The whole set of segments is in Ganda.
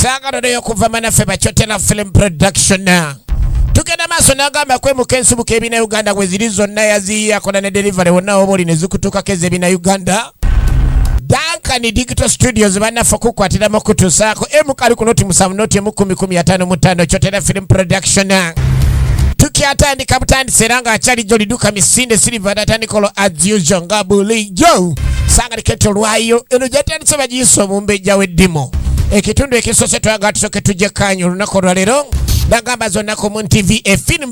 sangano neyo kuva manaffe bacotela film production tugenda maaso nagamba kwemuka ensibuka ebina uganda weziri zonna yaziyiyakola ne delivery wonna woba oli ne zikutuukako ez'ebina uganda Dankani Digital Studios banaffe okukwatira mu kutusaako emu kali ku noti musanvu noti emu kumi kumi ataano mu ttaano kyotera film production tukyatandika butandise era ng'akyali jjo liduka misinde silver datandikolo as usual nga bulijjo sanga liketo lwayo eno gyatandise bagiyisa omumbejja w'eddimu ekitundu ekisose twagala tusoke tujje kanyu olunaku olwaleero nagamba zonnaku mu ntv efilm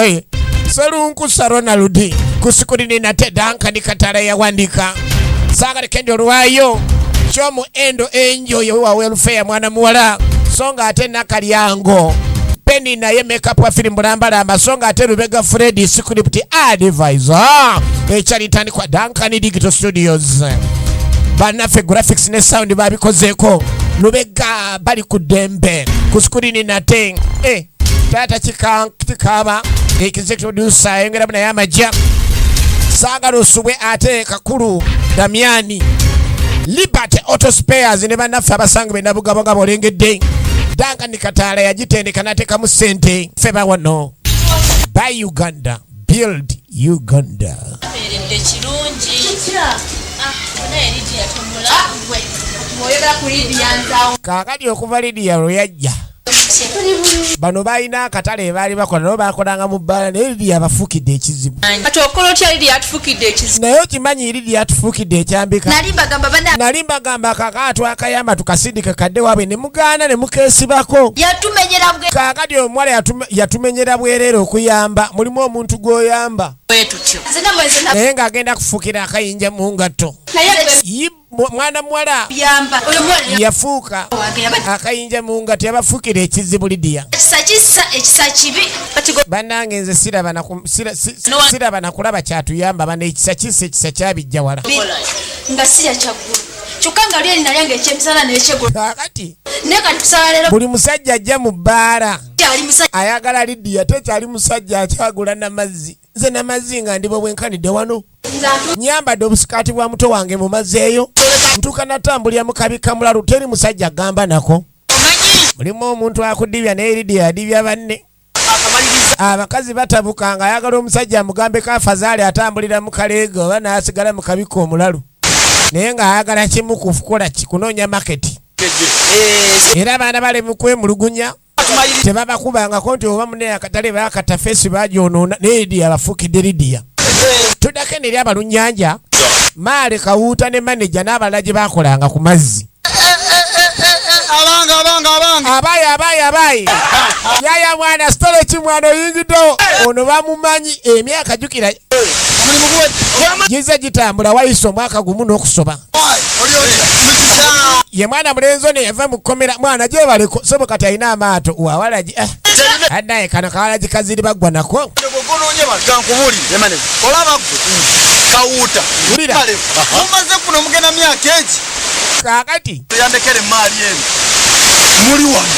eh, Serunkusa Ronald ku sikulini nate Duncan Katala yawandiika saagale kendi olwayo kyomu endo enjoy wa welfare mwana muwala so nga ate nakalyango Penny naye makeup wa film bulambalamba so nga ate Lubega Freddy script advisor ekyalitandikwa Duncan Digital Studios banaffe graphics ne sound babikozeeko lubega bali ku dembe ku sikulini nate eh. taata kikaaba executive producer ayongeramu naye amajja saagala osubwe ate kakulu damiani liberty auto spares ne bannaffe abasange be nabugabogabo olengedde danga ni kataala yagitendeka n'ateekamu ssente ffe bawano by uganda build uganda abeeredde kirungi kaakati ah, ah, okuva lidiya lwe yajja bano balina akatale ebaali bakola nabo bakolanga mu bbaala naye lidi yabafukidde ekizibu naye okimanyi lidi yatufukidde ekyambika nali mbagamba kaka twakayamba tukasindike kadde waabwe ne mugaana ne mukeesibako yatumenyera bwe kaakati omuwala yatuma- yatumenyera bwereere okuyamba mulimu omuntu gwoyamba bwetutyo nzina mwezi na naye ng'agenda kufukira akayinja mu ngatto naye gwe Yi- mu- mwana muwala yamba oyo mwana yafuuka wange yabadde akayinja mu ngatto yabafukira ekizibu lidiya ekisa kisa ekisa kibi kati gwe bannange nze siraba na ku- sira- si- si- No one- siraba na kulaba kyatuyamba bana ekisa kisa ekisa kyabijja wala nga si yakyaggulu kyokka nga lyeri nalyanga ekyemisana nekyegolo kakati naye kati tusala leero buli musajja ajja mu bbaala kyali musajja ayagala lidiya tekyali musajja akyagula namazzi nze namazzi nga ndibo bwenkanidde wano nyambadde obusikaati bwa muto wange mu mazzi eyo ntuuka natambulira mu kabi kamulalu teri musajja gamba nako mulimu omuntu akudibya naye lidiya adibya banne abakazi batabuka nga ayagala omusajja amugambe kafazaali atambulira mu kaleega oba n'asigala mu kabika omulalu naye ng'ayagala kimu kukukola ki kunoonya maketi eh, era abaana bale mu kwemulugunya tebabakubangako nti oba mune akatale bakata feesi bagyonoona naye lidiya bafuukidde lidiya eh. tudako eno eri abalunyanja maale kawuuta ne maneja n'abalala gye bakolanga ku mazzi abayi abayi abayi yaya mwana sitole ki mwana oyingiddewo ono bamumanyi emyaka jukira gize gitambula wayisa omwaka gumu n'okusoba ye mwana mulenzi ono yava mu kkomera mwana gyebaleko sobo kati alina amaato wawalagi eh. anaye kano kawalagi kaziri baggwa nako olaba kawuuta mumaze kuno mugenda myaka egi kakati yandekera emmaali eno muli wano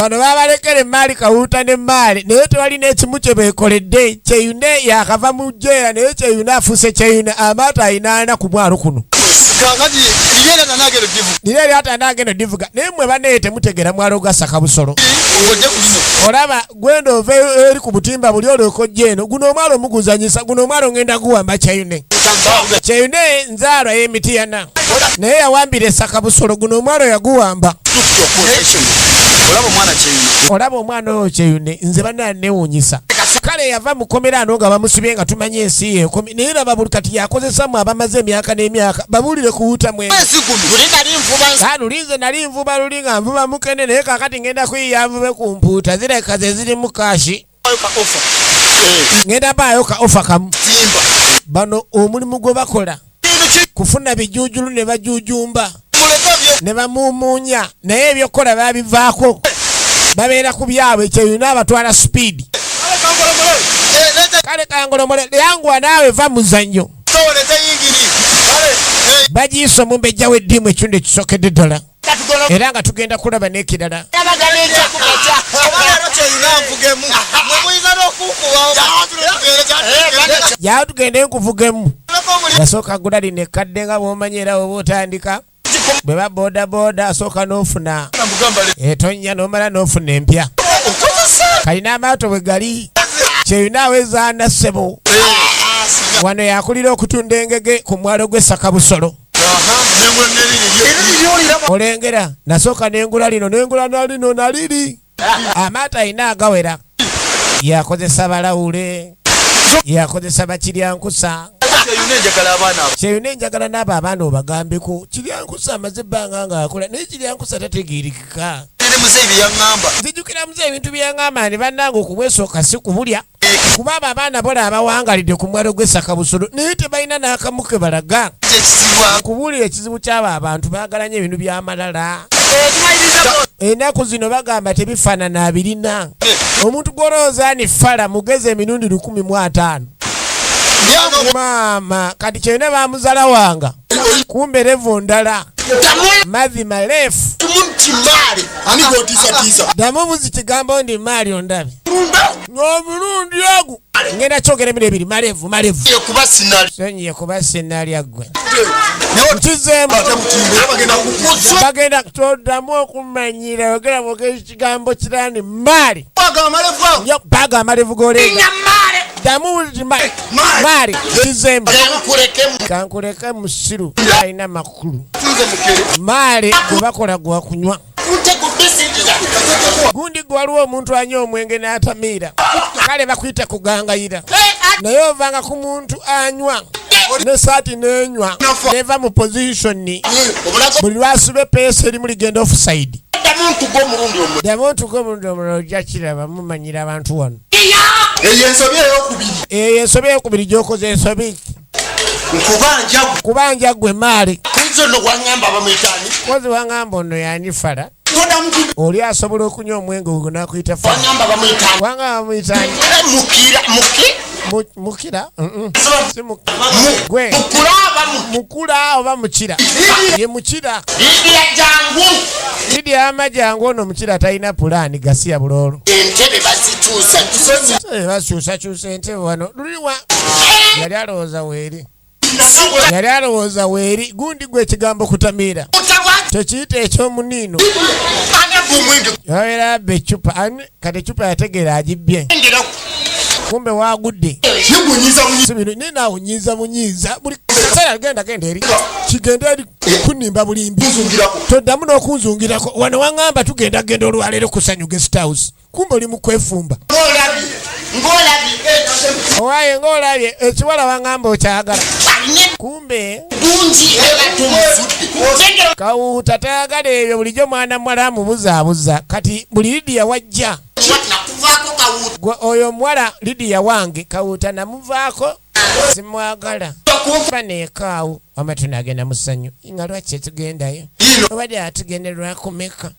bano babalekera emmaali kawuuta n'emmaali naye tewali n'ekimu kye beekoledde kyeyune yakava mu jjeera naye kyeyune afuuse kyeyune amaato alina ana ku mwalo kuno kakati liyera nanagero divu nira eri atandaga eno divuga naye mwe banaye temutegera mwalo gasaka busolo ngojja ku lino olaba gwenda ova eri ku butimba buli olyoka ojja eno guno omwalo omuguzanyisa guno omwalo ngenda guwamba kyayune kyayune nzaalwa y'emitiyana naye yawambira esaka busolo guno omwalo yaguwamba olaba omwana oyo kyeyune nze banaa newunyisa kale yava mukomera ano nga bamusibye nga tumanyi ensi yekomi naye laba buli kati yakozesamu abamaze emyaka n'emyaka babuulire kuwutamwe lulinze nali nvuba nali nga nvuba mukene naye kakati ngenda kuyiya nvube ku mpuuta zireka ze zirimu kashi ngenda baayo ka ofa kamu bano omulimu gwe bakola kufuna bijujulu ne bajujumba ne bamumunya naye ebyokukola babivaako babeera ku byabwe kyeyina abatwala speed kale kangolomole yanguwa naawe va muzannyo bagiyiso mumbejja w'eddiimu ekitundu ekisokedde ddala era nga tugenda kulaba n'ekirala yawo tugende nkuvugemu yasooka gula lino ekkadde nga bwomanyi era oba otandika bwe ba bodaboda asooka n'ofuna etonnya n'omala n'ofuna empya kalina amaato bwe gali kyeyina awezaana ssebo wano yakulira okutunda engege ku mwalo gw'essaka busolo olengera nasooka nengula lino nengula nalino naliri amaato alina agawera yakozesa balawule yakozesa bakiryankusa kyeyuna enjagala naabo abaana obagambeko kiryankusa amaze ebbanga nga akola naye kiryankusa tategerekeka nzijukira muze ebintu byeyaŋamba ni bannange okumwesooka si kubulya kuba abo abaana bola abawangalidde ku mwalo gw'essaka busolo naye tebalina n'akamu ke balaga kubuulira ekizibu ky'abo abantu baagala nyo ebintu by'amalala enaku zino bagamba tebifaanana abirina omuntu gw'olowooza ani fala mugezi emirundi lukumi mu ataano maama kati kyena bamuzala wanga kumbe revu ndala madhi malefu damu buzi kigambo ndi maali ondabi n'omulundi ogwo ngenda kyogera bino ebiri malevu malevu sonyiye kuba sinalya ggwe nkizeemu bagenda toddamu okumanyira yogera bwogera ekigambo kirani maali baga amalevu golenga ddamu maali nkizeemu kankuleke musiru alina makulu maali gwebakola gwakunywa gundi gwe waliwo omuntu anywa omwenge n'atamiira kale bakuyita kugangayira naye ovanga ku muntu anywa nesaati nenywa neva mu positioni buli lwasuba epeesa erimu ligenda ofusaidi ddamu ntuga omulundi omulala ojja kiraba mumanyira abantu wano eyo ensobi eyokubiri gyokoze ensobi nkubanja kubanja gwe maali kunze no wangamba bamuyitani kozi wangamba ono yani fala oli asobola okunywa omwenge ogwo nakuyita fawangamba bamuyitani mukira muki mukira mukula oba mukira ye mukira idi amajangu ono mukira talina pulaani gasiya buloolo bakyusakyusa entebe wano Omuduwa yali alowooza weeri. Yali alowooza weeri gundi gwe ekigambo kutamiira. Tekiyita ekyomuniino. Yabeera abba eccupa kati eccupa yategeera agibbye. Kumbe waagudde. Naye naawe onyiiza munyiiza buli kaseera agenda genda eri kigenda eri kunimba bulimbi. Toddamu n'okunzungirako wano wangamba tugenda genda olwaleero kusanyu guest house. kumbe oli mukwefumba owaye ngaolabye ekiwala wangamba okyagala kumbe kawuuta tayagala ebyo bulijjo mwana muwala amubuzaabuza kati buli lidiya wajja oyo omuwala lidiya wange kawuuta namuvaako simwagala kuba nekaawo wama tunagenda musanyu nga lwaki etugendayo obadde atugenderwa kumeka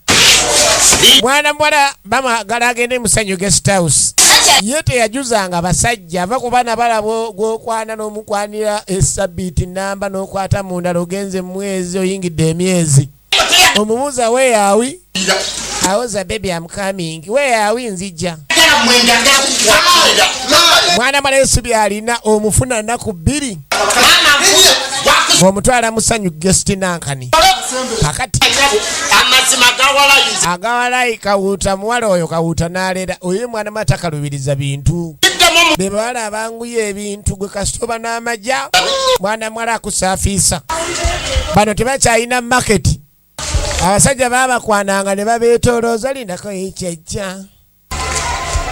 mwana muwala bamagala agende musanyu guest house ye teyajuzanga basajja ava ku baana balabo gwokwana n'omukwanira esabiiti namba n'okwata mundala ogenze mumwezi oyingidde emyezi omubuuza where are we awoza baby am coming where are we nzija mwana mwana yesu byalina omufuna naku bbiri omutwala musanyu gesti nankani kakati agawalayi kawuuta muwala oyo kawuuta nalera oyo mwana matakalubiriza bintu bebawala abangu ebintu gwe kasita oba n'amagya mwana mwala akusaafiisa bano tebakyalina maketi abasajja babakwananga ne babeetolooza lindako ekyejja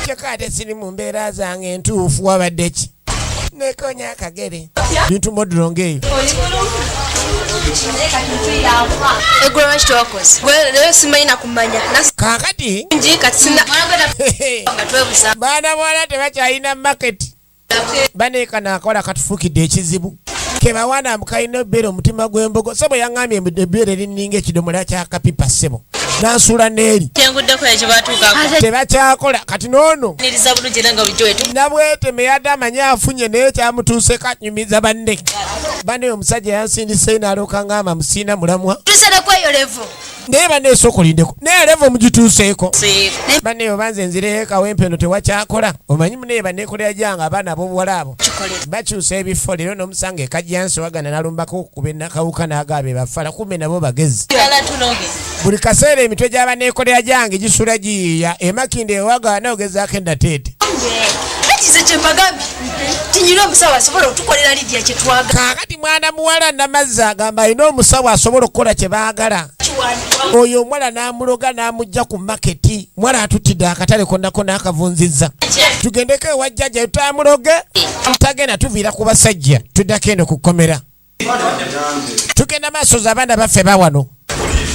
kyokka ate siri mu mbeera zange entuufu wabadde ki nekonya akagere bintu modulo ng'eyo egulama kitokozi leero simanyi manya kakati nji katsina twebuza bana bwana tebakyalina market bane kana akola katufukidde ekizibu kebawana mukayina obeera omutima gw'embogo sebo yaŋambye ebeera erininga ekidomola kyakapipa sebo nansula neeri tebakyakola kati noono nabweteme yadde amanyi afunye naye kyamutuuseko anyumiza banne bane omusajja yansindiseyo nalooka ngamba musiina mulamwa naye banne esooka olindeko naye leva omugituuseeko banne obanze nzireyo kawempe eno tewakyakola omanyi munaye banekolera gyange abaana abobuwala abo bakyusa ebifo leero nomusanga ekajjansi wagana nalumbako okukuba enakawuka nagaabe bafala kumbe nabo bagezi buli kaseera emitwe gyabanekolera gyange gisula giyiiya emakinde ewagaana ogezaako enateete tunyire omusawo asobola okutukolera lidia kyetwaga kakati mwana muwala namazzi agamba alina omusawo asobola okukola kyebaagala oyo omuwala n'amuloga n'amugja ku maketi muwala atutidde akatale konnako n'akavunzizza tugendeko ewajjaja tutamuloge tagenda tuviira ku basajja tuddako eno ku kkomera tugenda maaso za abaana baffe bawano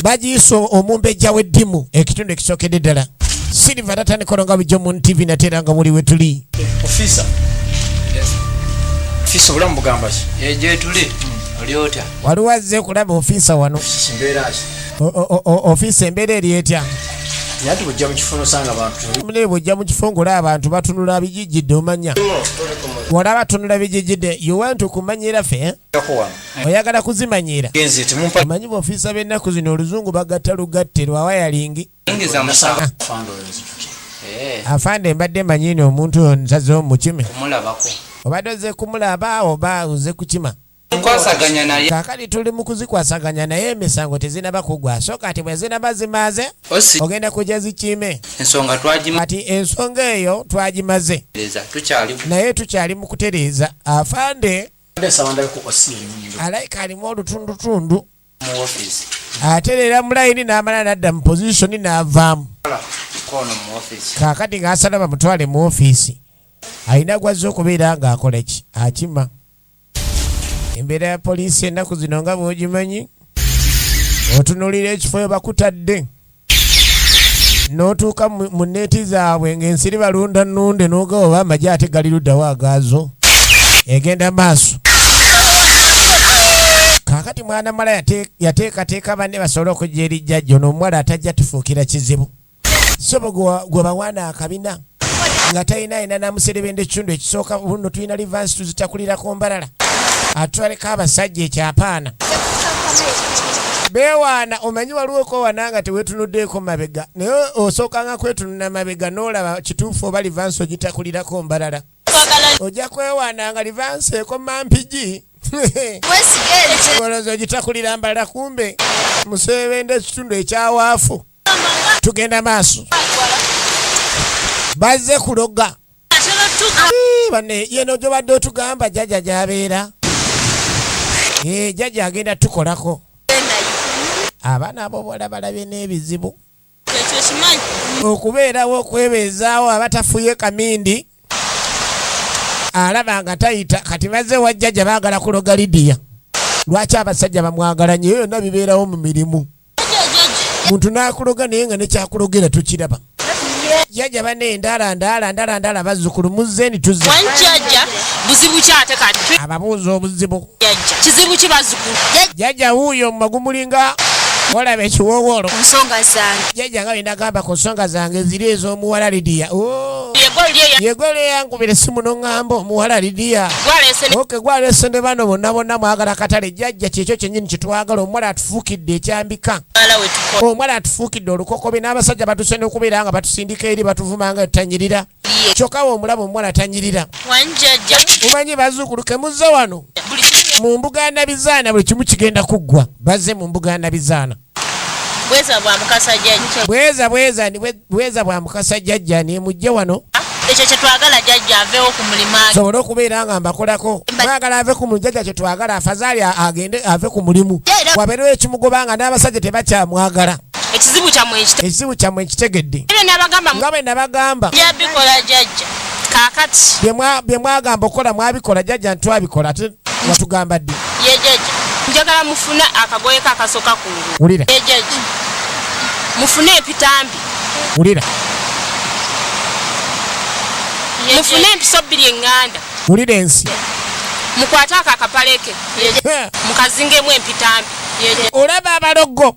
bagiyisa omumbejja w'eddimu ekitundu ekisookedde ddala silva tatandikola nga bujjo mun tv nateera nga muli wetuli waliwo azze kulaba ofiisa wano ofiisa embeera eri etya yati bujja mu kifo nosanga bantu mune bujja mu kifo ngolaba abantu batunula bijijjidde omanya Olaba tunula bijijide you want to kumanyira fe eh? oyagala kuzimanyira omanyi bofiisa b'ennaku zino oluzungu bagatta lugatte lwawayalingi afande mbadde manyini omuntu nsaze omukime obadde oze kumulaba oba oze kukima kukwasaganya naye kakati tuli mu kuzikwasaganya naye emisango tezinaba kugwa so kati bwe zinaba zimaze ogenda kujja zikiime ensonga twagima kati ensonga eyo twagimaze tukyali naye tukyali mu kutereeza afande alaika alimu olutundutundu ate leera mulayini n'amala n'adda mu pozisoni n'avaamu kakati ng'asala bamutwale mu ofiisi alina gwazza okubeera ng'akoleki akima embeera ya poliisi ennaku zino nga bw'ogimanyi otunuulira ekifo we bakutadde n'otuuka mu neeti zaabwe ng'ensiri balunda nnunde n'ogaba oba amagye ate gali luddawo agaazo egenda maaso kakati mwana mala yateekateeka banne basobole okujja eri jjajja ono omuwala atajja tufuukira kizibu Sobo gwe bawana akabina nga talina yina namuserebenda ekitundu ekisooka buno tulina livansi tuzitakulirako mbalala atwaleko abasajja ekyapaana bewaana omanyi waliwo okowana nga tewetunuddeeko mabega naye osookanga kwetununa mabega n'olaba kituufu oba livansi ogitakulirako mbalala ojja kwewaana nga livansi ekoma mpigi olowooza ogitakulira mbalala kumbe musebenda ekitundu ekyawaafu tugenda maaso bazze kuloga bane yeno gyobadde otugamba jaja gyabeera eh, jaja agenda tukolako abaana abo bola balabye n'ebizibu okubeerawo okwebeezaawo abatafuye kamindi alaba nga tayita kati bazze wajjaja baagala kuloga lidiya lwaki abasajja bamwagala nyo yonna bibeerawo mu mirimu muntu nakuloga naye nga nekyakulogera tukiraba jaja bane ndala ndala ndala ndala bazukulu muzeni tuzi wanjaja buzibu kyate kati ababuuza obuzibu jaja kizibu kibazukulu jaja wuyo magumulinga olaba ekiwowolo nsonga zange jaja nga bendagamba ku nsonga zange ziri ez'omuwala lidiya oh. yegole yankubira esimu noŋŋamba omuwala lidiya oke gwalese ne bano bonna bonna mwagala katale jajja kyekyo kyenyini kyetwagala omuwala atufuukidde ekyambika omuwala atufuukidde olukokobe n'abasajja batuse n'okubeera nga batusindika eri batuvuma nga tutanyirira kyokka we omulaba omuwala atanyirira mumanyi bazuukulu kemuzza wano mu mbuga ya nabizaana buli kimu kigenda kuggwa bazze mu mbuga ya nabizaana bweza bwa mukasa jajja bweza bweza Bweza bwa mukasa jajja ne mujje wano. Ekyo kye twagala jajja avewo ku mulimu age. Sobola okubeera nga mbakolako. Mwagala ave ku mulimu jajja kye twagala afazali agende ave ku mulimu. Wabeerewo ekimugoba nga n'abasajja tebakyamwagala. Ekizibu kyamwe ekitegedde. Ekizibu kyamwe ekitegedde. Nga bwe nabagamba. Yabikola jajja. Kakati. Bye mwagamba okola mwabikola jajja ntwabikola ate watugamba ddi yejeje njagala mufune akagoye kakasoka kungulu wulira yejeje mufune epitambi wulira mufune empiso bbiri eŋŋanda wulira ensi mukwate ako akapaleke mukazingemu empitambi olaba abalogo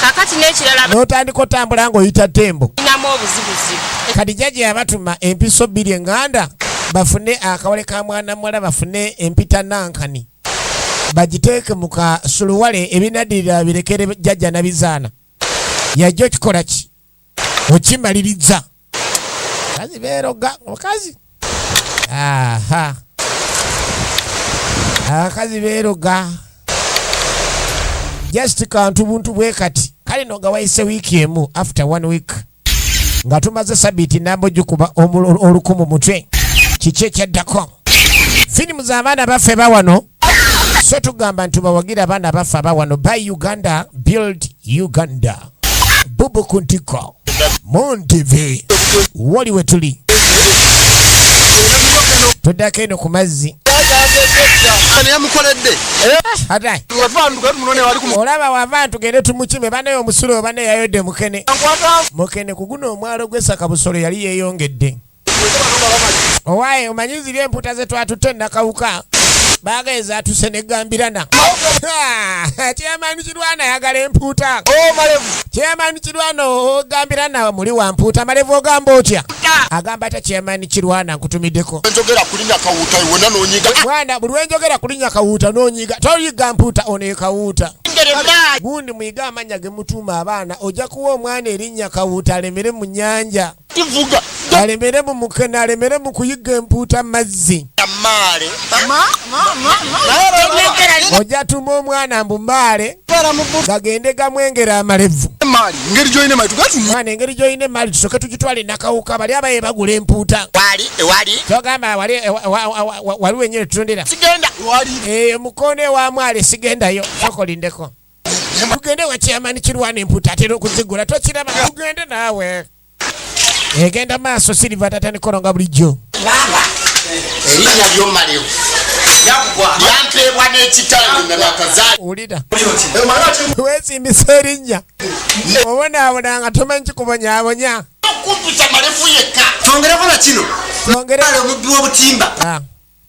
kakati n'ekirala n'otandika otambula ng'oyita tembo inamu obuzibuzibu kadija gye yabatuma empiso bbiri eŋŋanda bafune akawale ka mwana muwala bafune empita nankani bagiteeke mu kasuluwale ebinadirira birekere jajja nabizaana yajja okikola ki okimaliriza kazi beeroga omukazi aha abakazi beeroga just kantu buntu bwe kati kale no nga wayise wiiki emu after one week nga tumaze sabiiti namba ogikuba olukumu mutwe kiki ekyaddako firimu z'abaana baffe bawano so tugamba nti bawagire abaana abaffe abawano by uganda build uganda bubu ku ntiko muntv woli we tuli tuddako eno ku mazzi olaba wava ntugende tumukime banaye omusulo obana yayodde mukene mukene ku guno omwalo gwesaka busolo yali yeyongedde owaye omanyi ziri emputa zetwatutte nakawuka baga ezatuse negambirana kyemani kirwana ayagala empuuta kyemani kirwana ogambirana muli wa mpuuta malevu ogamba otya agamba ta kyemani kirwana nkutumiddeko mwana buli wenjogera kulinya kawuuta nonyiga toyiga mpuuta onekawuuta gundi muyiga amanya gemutuuma abaana oja kuwa omwana erinya kawuuta alemere mu nyanja alemere mu mukene alemere mu kuyiga empuuta mazzi ojja tuma omwana mbu maale gagende gamwengera amalevu mwana engeri gyolina emaali tusoke tugitwala enakawuka bali abaye bagula empuuta kyogamba wali wenyini tutundira eyo eh, mukono ewa mwale sigendayo sokolindeko tugende wa chairman kirwana emputa atera okuzigula tokiraba tugende naawe egenda maaso siriva tatanikoronga bulijjo erinnya lyomalewo yampeebwa n'ekitange nga nakazaa wulira weesimbisa erinnya obonaabona nga tomanyi kikubonyabonya okumputa malevu yekka kyongereko na kino kyongere omubbi w'obutimba ah.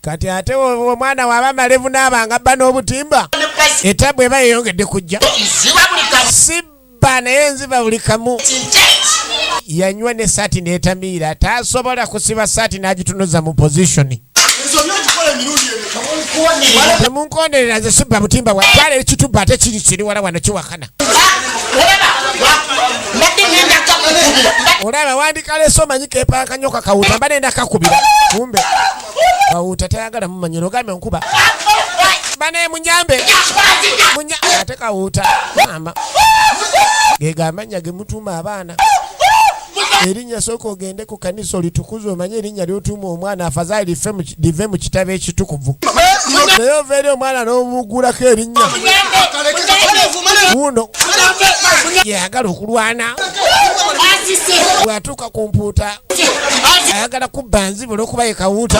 kati ate omwana waba malevu naabanga bba n'obutimba etabbu eba yeyongedde kujja si bba naye nziba buli kamu yanywa ne saati netamiira tasobola kusiba saati n'agitunuza mu positioni temunkonderera nze sibba butimba bwatwala ekitubba ate kiri kiri wala wano kiwakana olaba wandika leso manyi kepanka nyo kakawuta mba nenda kakubira kumbe kawuta tayagala mumanyira ogambye nkuba bane munyambe ate kawuta mama gegamanya gemutuma abaana erinnya sooka ogende ku kanisa olitukuza omanye erinnya lyotuuma omwana afazaali live mu kitabo ekitukuvu naye ovaeri omwana n'omugulako erinnya wuno yeyagala okulwana bwatuuka ku mpuuta ayagala kubba nzibula okuba ye kawuuta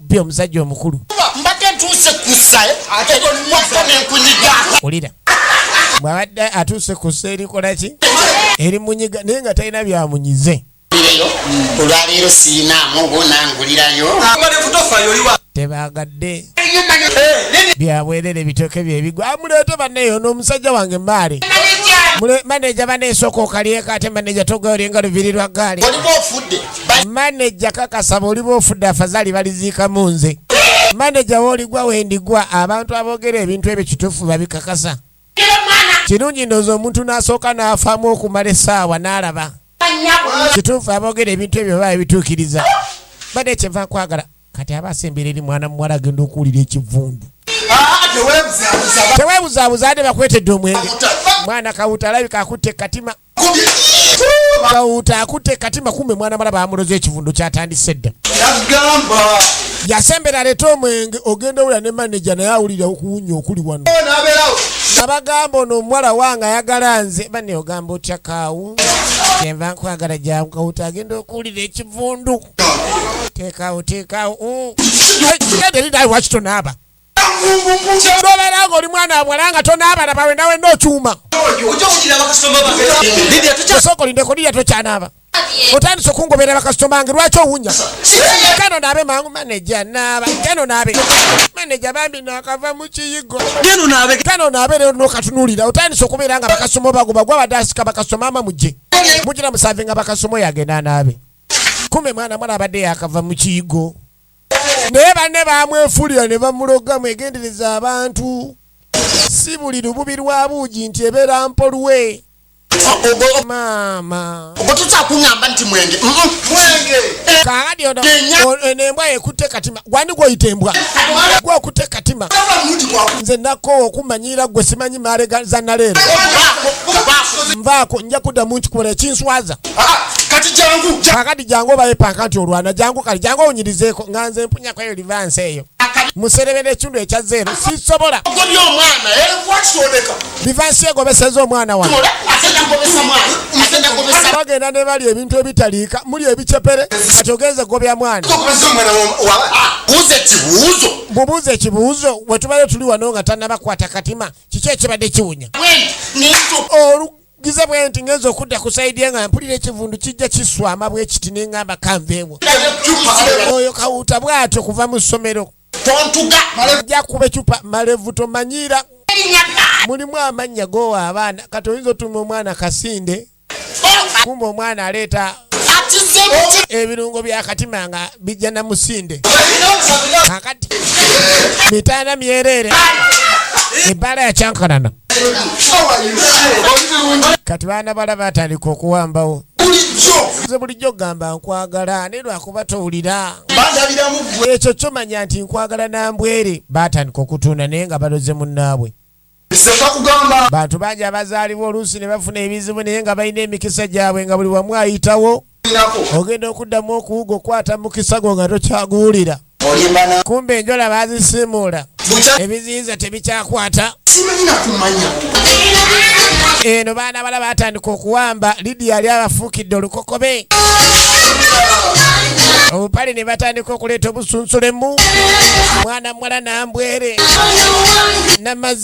bbi omusajja omukulu mbadde ntuuse kusa eh? ate mwaka nenkunyiga ulira bwabadde atuuse kusa erikola ki eri munyiga naye nga talina byamunyize olwaleero siinaamu bunangulirayo tebagadde eh, byabwerere bitoke byebigwa amuleete ah, banneyo n'omusajja wange maale maneja baneesooka okalyeko ate maneja togaolyengalo virirwa gaali maneja kakasa bwoliba ofudde afazali baliziikamu nze maneja woligwa wendigwa abantu aboogera ebintu ebyo kituufu babikakasa kirungi ndoozi omuntu n'asooka n'afaamu okumala essaawa n'alaba kituufu aboogera ebintu ebyo baba ebituukiriza bade kyenva nkwagala kati aba asembera eri mwana muwala agenda okuwulira ekivundu teweebuzaabuza ade bakwetedde omwenge mwana kawuta alabika akutte katima Kawuuta akutte katima kumbe mwana mala baamuloza ekivundu kyatandise dda. Yagamba. Yasembera aleeta omwenge ogenda owulira ne maneja naye awulira okuwunya okuli wano. Abagamba ono omuwala wange ayagala nze bane ogamba otya kaawu kyenva nkwagala jangu kawuuta agenda okuwulira ekivundu. Teekaawo teekaawo. Genda eri naawe wakitonaaba. tobeeranga oli mwana wabwala nga tonaabalaba wena wena okyuma osooka olindeko liya tokyanaaba otandise okungobera bakasitoma bange lwaki owunya kano naabe mangu maneja naaba kano naabe maneja bambi nakava mu kiyigo kano naabe lero nokatunulira otandise okubeera nga bakasitoma bagoba gwabadde asika bakasitoma ama mujje mugira musave nga bakasitoma oyagenda anaabe kume mwana mwana abadde yakava mu kiyigo naye banne bamwefulira ne bamuloga mwegendereza abantu si buli lububi lwa buugi nti ebeera mpolwe maama ogototakuŋamba nti mwenge kaadi ono eno embwa yekutte katima gwani gwoyita embwa gwe okutte katima nze nakoowa okumanyiira gwe simanyi maale za naleero nvaako nja kuddamu nkikubola ekinswaza kakati jangu obaye panka nti olwana jangu kale jangu owunyirizeeko nga nze mpunya kweyo livansi eyo muserebera ekitundu ekya zeero sisobola livansi eh? egobeseza omwana wange bagenda ne bali ebintu ebitaliika muli ebicepere kati ogenze gobya mwana mubuuza ekibuuzo wetubadde tuli wano nga tanabakwata katima kiki ekibadde kiwunya njize bwe nti ngenza okudda ku sayidi nga mpulira ekivundu kijja kiswama bwe kiti ne ngamba kanveewo oyo kawuuta bw'atyo kuva mu ssomero ojja kuba ecupa malevu tomanyiira mulimu amannya goowa abaana kati oyinza otuma omwana kasinde oh! kumba omwana aleeta ebirungo byakatima nga bijja na musinde kakati mitanda myereere ebbala yakyankanana kati baana bala batandika okuwambawo nze bulijjo ogamba nkwagala naye lwakuba towulira ekyo kyomanya nti nkwagala nambwere batandika okutunda naye nga baloze munnaabwe bantu bangi abazaalibwa oluusi ne bafuna ebizibu naye nga balina emikisa gyabwe nga buli wamu ayitawo ogenda okuddamu okuwuga okwata mukisa gwo nga tokyaguwulira kumba enjola bazisiimuula ebiziyiza tebikyakwata eno baana bala batandika okuwamba lidi yali abafuukidde olukokobe obupale ne batandika okuleeta obusunsulemu mwana muwala nambwere namazi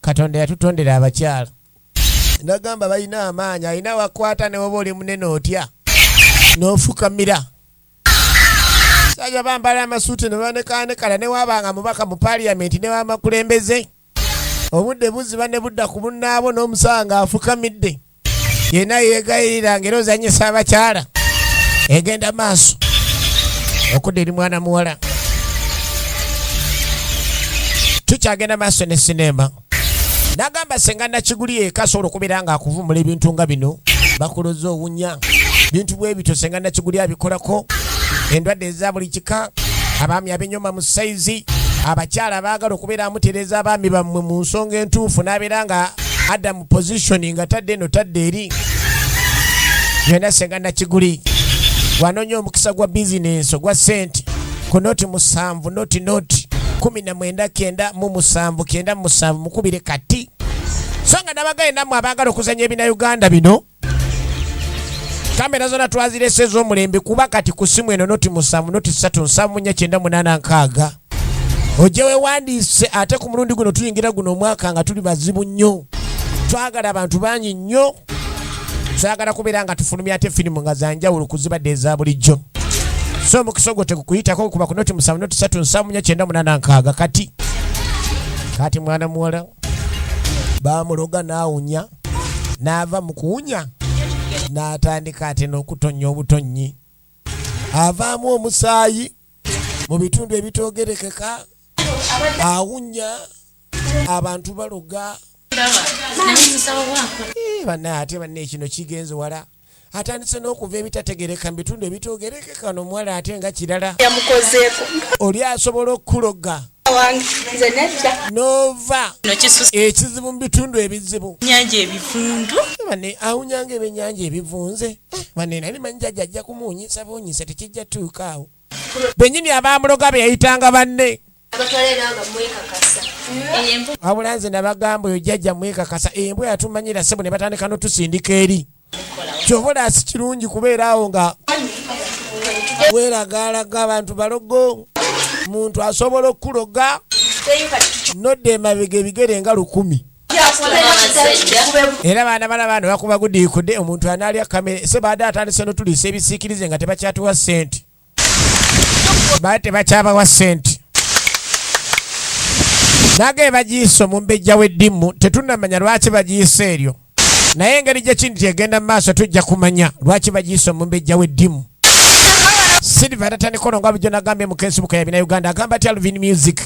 Katonda yatutondera abakyala. Nagamba balina amaanyi, alina wakwata ne woba oli munene otya n'ofukamira. Saja bambala amasuuti ne banekanekala ne wabanga mubaka mu parliament ne wamakulembeze. Obudde buziba ne budda ku munnaabwo n'omusanga afukamidde. yena yegayirira ngera ozanyisa abakyala egenda maaso okudda eri mwana muwala tukyagenda maaso ne sineema nagamba senga nakiguli eka asobola okubeera nga akuvumula ebintu nga bino bakuloza owunya bintu bwebityo senga nakiguli abikolako endwadde eza buli kika abaami abenyoma mu saizi abakyala baagala okubeera amutereeza abaami bammwe mu nsonga entuufu n'abeera nga adamu position nga tadde no tadde eri yona senga nakiguli wanonye omukisa gwa bizinensi ogwa sente ku noti musanvu noti noti kumi na mwenda kenda mu musanvu kenda mu musanvu mukubire kati so nga nabagaye namwe abagala okuzanya ebina uganda bino kamera zona twazirese ezomulembe kuba kati ku simu eno noti musanvu noti satu nsanvu nya kyenda munaana nkaaga ojje wewandiise ate ku mulundi guno tuyingira guno omwaka nga tuli bazibu nnyo twagala abantu bangi nnyo twagala kubeera nga tufulumya ate firimu nga zanjawulo kuzibadde eza bulijjo so omukisa ogwo tegukuyitako kuba ku noti musanvu noti satu nsanvu nya kyenda munaana nkaaga kati kati mwana muwala bamuloga naawunya n'ava mu kuwunya n'atandika ate n'okutonnya obutonnyi avaamu omusaayi mu bitundu ebitoogerekeka awunya abantu baloga eh, banaye ate banne ekino kigenze wala atandise n'okuva ebitategereka mu bitundu ebitoogerekeka no omuwala ate nga kirala yamukozeeko oli asobola okukuloga nova ekizibu mu bitundu ebizibu nyanja ebivundu bane awunyanga ebyenyanja ebivunze eh, bane nali manyi jajja ajja kumuwunyisa buwunyisa tekijja tuukaawo benyini abaamuloga beyayitanga banne wabula nze nabagamba oyo jjajja mwekakasa embwa yatumanyira sebo ne batandika notusindika eri kyova olaasi kirungi kubeera awo nga weragaalaga abantu balogo muntu asobola okukuloga nodda emabega ebigere nga lukumi era baana bana baana bakuba gudiikude omuntu anaalya kamere se baade atandise notulisa ebisiikirize nga tebakyatuwa ssente bali tebakyabawa sente naga ebagiyisa omumbejja w'eddimu tetunamanya lwaki bagiyisa eryo naye engeri gyekindi kyegenda mu maaso tujja kumanya lwaki bagiyisa omumbejja w'eddimu silva tatandika olonga bujo nagambye mu facebook ya bina uganda agamba ti alvin music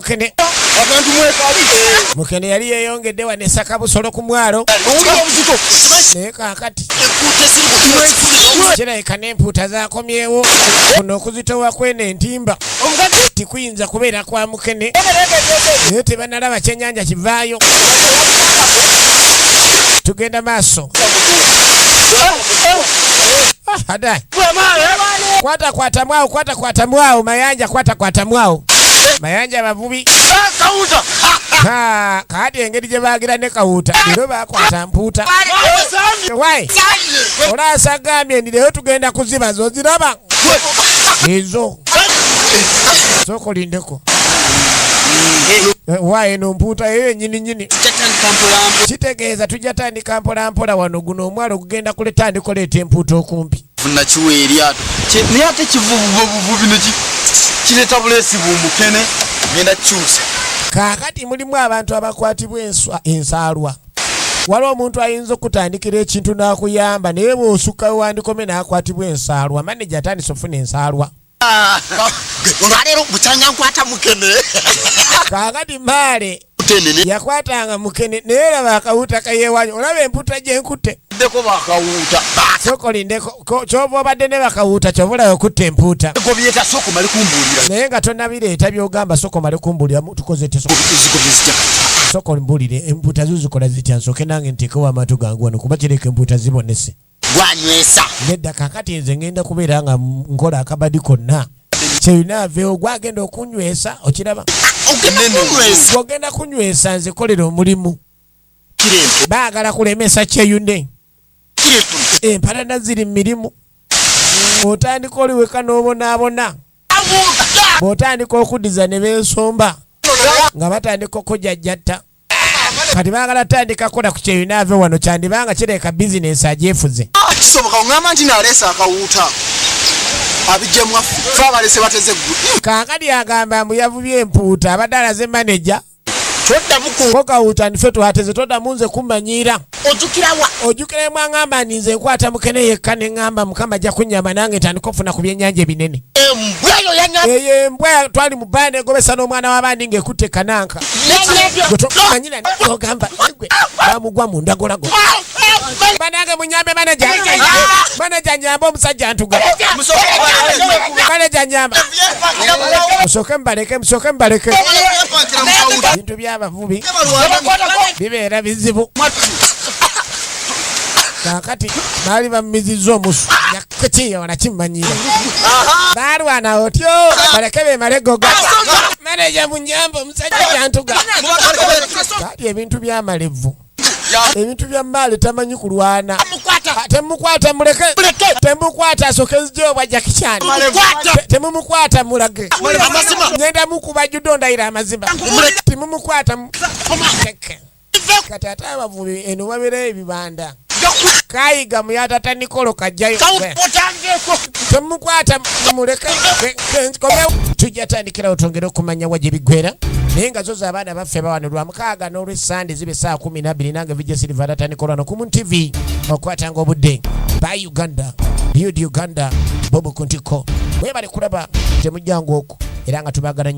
Mukene abantu mwekabi Mukene yali yeyongedde wa nesaka busolo ku mwalo naye kakati kirabika n'empuuta zakomyewo kuno okuzitowa kweno entimba tikuyinza kubeera kwa mukene naye tebanalaba kyenyanja kivaayo tugenda maaso ah, ah, ah, Kwata kwata mwao, kwata kwata mwao, mayanja kwata kwata mwao. Mayanja abavubi. Kawuta. Ha, kadi engeri gye baagira ne kawuta. Lero bakwata mpuuta. Why? Olaasa gambye ndi lero tugenda kuziba zo ziraba. Ezo. Soko lindeko. Why no mpuuta eyo nyini nyini. Kitegeeza tujja tandika Tandika mpola mpola wano guno omwalo ogugenda kuleta ndikoleeta empuuta okumpi. Vuna kiwa eryato. Naye ate kivuvuvuvuvi ne kireeta buleesi bumukene ngenda kyusa. Kaakati mulimu abantu abakwatibwa enswa ensaalwa. Waliwo omuntu ayinza okutandikira ekintu n'akuyamba naye bw'osukka we wandikome n'akwatibwa ensaalwa. Maneja atandise okufuna ensaalwa. olwaleero bukyanga nkwata mukene kakati maale yakwatanga mukene naye olaba akawuuta kayewanyi olaba emputa gyenkutte ndeko bakawuuta sokolindeko kyova obadde ne bakawuuta kyova olaba okutta empuuta gobyeta soko mali kumbuulira naye nga tonabireeta byogamba soko mali kumbuulira tukoze te soko mbuulire empuuta zuzikola zitya nsoke nange ntekewo amatu gangu wano kuba kireka empuuta zibonese gwanywesa nedda kakati nze ngenda kubeera nga nkola akabadi konna kyeyina aveewo gwagenda okunywesa okiraba ogenda kunywesa nze kolera omulimu baagala kulemesa kyeyune empalana ziri mumirimu otandika oli weka n'obonaabona bw'otandika okuddiza ne bensomba nga batandika okujajjatta kati bagala tandika kola ku kyeyina ave wano kyandibanga kireka bizinensi agyefuze ah, kisoboka oŋamba nti naleesa akawuuta abijemwaffe abalese bateze ggu kankadi agamba mbu yavubye empuuta abadde alaze maneja toddamu kokawuuta ndife tuhateze toddamu nze kumanyiira ojukira wa ojukira emwangamba ndi nze nkwata mukene yekka ne ngamba mukama ajja kunyamba nange ntandika okufuna ku byennyanja ebinene embwa eyo yanya eyo embwa twali mu bbaana egobesa n'omwana w'abandi ng'ekutte kananka yanyabyo gwe tomanyira ogamba gwe bamugwa mu ndagolago banange munyambe manaja manaja nyamba omusajja ntuga manaja nyamba musooke mubaleke musooke mubaleke bintu byaba bubi bibeera bizibu kakati baali bamumizizza omusu yakati ona kimanyire balwana otyo baleke bemalegoga maneja munyamba omusajja jantuga kali ebintu byamalevu ebintu bya maali tamanyi kulwana temukwata muleke temukwata asoke nzija obwa jakichani temumukwata mulage ngenda mukuba judo ndayira amazima timumukwata kati ate abavubi eno babeerayo ebibanda kayiga muyatata nikolo kajjayo temukwata muleke tujja tandikirawo twongere okumanya wa gye biggwera naye nga zo z'abaana baffe bawanulwa mukaaga n'olw Sunday zibe saa kumi nabiri nange vijja siliva atatandika olwano ku TV okwatanga obudde ba Uganda Yud Uganda bobu kuntiko webale kulaba temujjangu oku era nga tubagala nnyo